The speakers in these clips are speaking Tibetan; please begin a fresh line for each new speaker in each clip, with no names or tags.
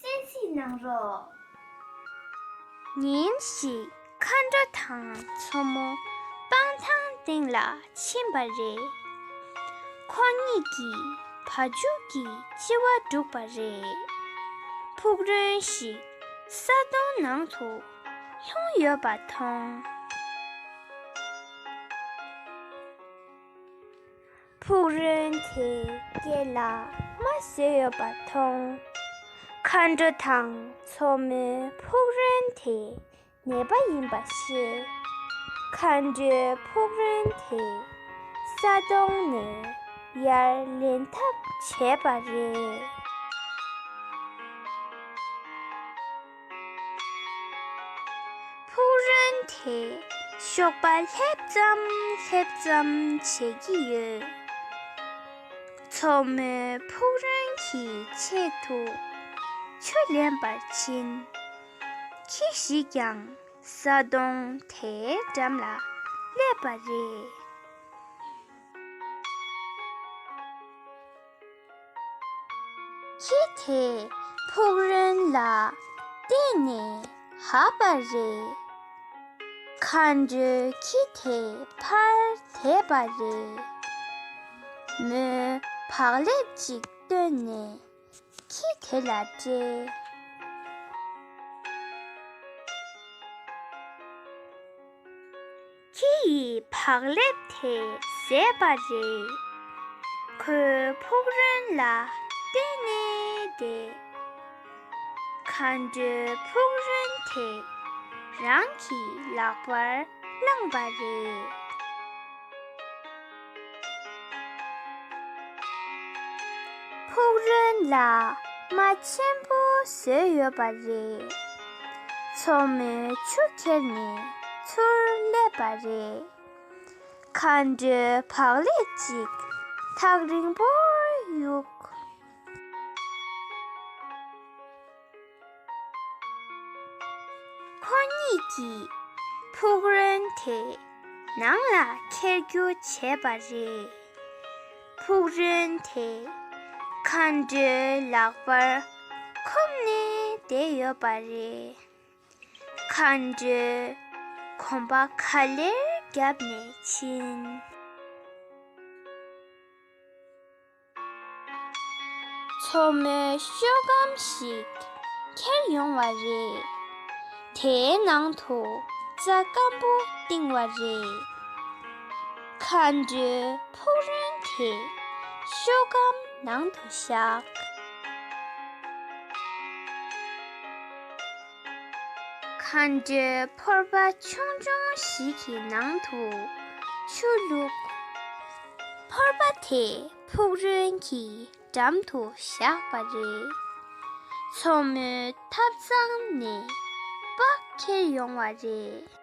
གསན་གཟིགས་གནང་རོགས། ཉིན་ཞིག་མཁའ་འགྲོ་དང་མཚོ་མོ་སྤང་ཐང་སྟེང་ལ་ཕྱིན་པ་རེད། ཁོ་གཉིས་ཀྱིས་བ་འཇུག་གི་ལྕི་བ་བསྒྲུགས་པ་རེད། ཕུག་རོན་ཞིག་ས་དོང་ནང་དུ་ལྷུང་ཡོད་པ་མཐོང། ཕུག་རོན་དེས་སྐེ་ལ་རྨ་བཟོས་ཡོད་པ་མཐོང། མཁའ་འགྲོ་དང་མཚོ་མོས་ཕུག་རོན་དེ་ནད་པ་ཡིན་པ་ཤེས། མཁའ་འགྲོས་ཕུག་རོན་དེ་ས་དོང་ནས་ཡར་ལེན་ཐབས་བྱས་པ་རེད། ཕུག་རོན་དེས་གཤོག་པ་སླེབས་ཙམ་སླེབས་ཙམ་བྱེད་ཀྱི་ཡོད། མཚོ་མོའི་ཕུག་རོན་གྱི་ཆེད་དུ་ཆུ་ལེན་པར་ཕྱིན། ཁྱི་ཞིག་ཀྱང་ས་དོང་དེའི་འགྲམ་ལ་སླེབས་པ་རེད། ཁྱི་དེས་ཕུག་རོན་ལ་བལྟས་ནས་ཧ་པ་རེད། མཁའ་འགྲོའི་ཁྱི་དེ་ཕར་དེད་པ་རེད། མོས་བག་ལེབ་ཅིག་བཏོན་ནས་ཁྱི་དེ་ལ་སྤྲད། ཁྱི་ཡི་བག་ལེབ་དེ་ཟས་པ་རེད། ཁོའི་ཕུག་རོན་ལ་བལྟས་ནས་བསྡད། མཁའ་འགྲོའི་ཕུག་རོན་དེ་རང་གི་ལག་པར་བླངས་པ་རེད། ཕུག་རོན་ལ་རྨ་ཆེན་པོ་བཟོས་ཡོད་པ་རེད། མཚོ་མོའི་ཆུ་ཁྱེར་ནས་ཚུར་སླེབས་པ་རེད། མཁའ་འགྲོའི་བག་ལེབ་ཅིག་ཐག་རིང་པོར་གཡུགས། ཁོ་གཉིས་ཀྱིས་ཕུག་རོན་དེ་ནང་ལ་འཁྱེར་རྒྱུ་བྱས་པ་རེད། ཕུག་རོན་དེ་མཁའ་འགྲོའི་ལག་པར་འཁུམས་ནས་བསྡད་ཡོད་པ་རེད། མཁའ་འགྲོས་གོམ་པ་ག་ལེར་བརྒྱབ་ནས་ཕྱིན། མཚོ་མོའི་ཤོད་སྒམ་ཞིག་ཁྱེར་ཡོང་བ་རེད། དེའི་ནང་དུ་རྩྭ་སྐམ་པོ་བཏིང་བ་རེད། མཁའ་འགྲོའི་ཕུག་རོན་དེ་ཤོད་སྒམ་ནང་དུ་བཞག། མཁའ་འགྲོའི་ཕོར་པ་ཆུང་ཆུང་ཞིག་གི་ནང་དུ་ཆུ་བླུགས། ཕོར་པ་དེ་ཕུག་རོན་གྱི་འགྲམ་དུ་བཞག་པ་རེད། མཚོ་མོའི་ཐབ་ཚང་ནས་པགས་ཁྱེར་ཡོང་བ་རེད།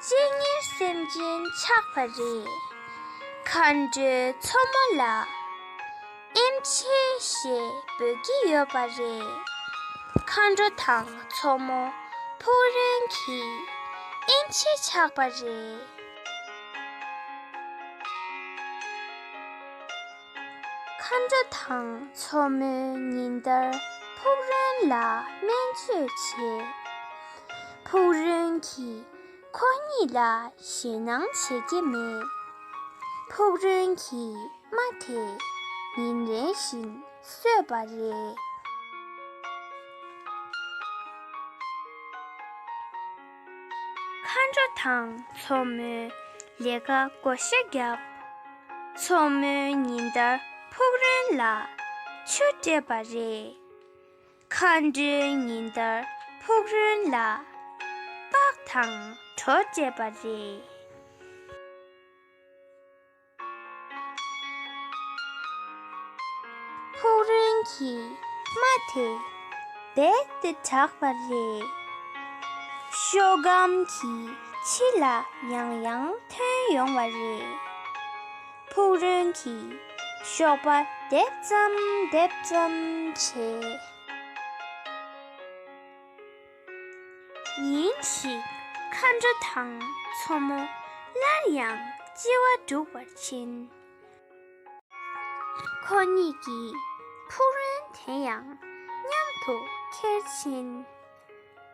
གཅེས་ཉེར་སེམས་ཅན་ཆགས་པ་རེད། མཁའ་འགྲོའི་མཚོ་མོ་ལ་ཨེམ་ཆེ་ཞེས་འབོད་ཀྱི་ཡོད་པ་རེད། མཁའ་འགྲོ་དང་མཚོ་མོ་ཕུག་རོན་གྱིས་ཨེམ་ཆེ་ཆགས་པ་རེད། མཁའ་འགྲོ་དང་མཚོ་མོའི་ཉིན་ལྟར་ཕུག་རོན་ལ་སྨན་བཅོས་བྱེད། ཕུག་རོན་གྱིས་ཁོ་གཉིས་ལ་ཞེད་སྣང་བྱེད་ཀྱི་མེད། ཕུག་རོན་གྱི་རྨ་དེ་ཉིན་རེ་བཞིན་བསོད་པ་རེད། མཁའ་འགྲོ་དང་མཚོ་མོའི་ལས་ཀ་བགོ་བཤའ་བརྒྱབ། མཚོ་མོའི་ཉིན་ལྟར་ཕུག་རོན་ལ་ཆུ་སྤྲད་པ་རེད། མཁའ་འགྲོའི་ཉིན་ལྟར་ཕུག་རོན་ལ་པགས་དང་གྲོ་སྤྲད་པ་རེད། ཕུག་རོན་གྱི་རྨ་དེ་རྦད་དེ་དྲགས་པ་རེད། ཤོ་སྒམ་གྱི་ཕྱི་ལ་ཡང་ཡང་ཐོན་ཡོང་བ་རེད། ཕུག་རོན་གྱི་གཤོག་པ་རྡེབ་ཙམ་རྡེབ་ཙམ་བྱེད། ཉིན་ཞིག་མཁའ་འགྲོ་དང་མཚོ་མོ་སླར་ཡང་ལྕི་བ་འབྲུག་བར་ཕྱིན། ཁོ་གཉིས་ཀྱི་ཕུག་རོན་དེ་ཡང་མཉམ་དུ་ཁྱེར་ཕྱིན།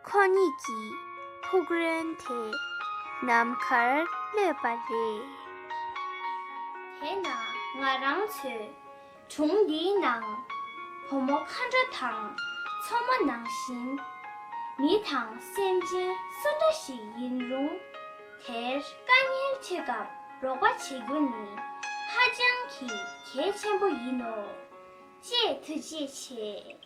ཁོ་གཉིས་ཀྱི་ཕུག་རོན་དེ་ནམ་མཁར་གློད་པ་རེད། དེས་ན་ང་རང་ཚོས་དྲུང་འདིའི་ནང། བུ་མོ་མཁའ་འདྲ་དང་མཚོ་མོ་ནང་བཞིན། མི་དང་སེམས་ཅན་སུ་འདྲ་ཞིག་ཡིན་རུང། དེར་དཀའ་ཉེན་ཆེ་སྐབས་རོགས་པ་བྱེད་རྒྱུ་ནི་ཧ་ཅང་གི་གལ་ཆེན་པོ་ཡིན་ནོ། ཅེས་ཐུགས་རྗེ་ཆེ།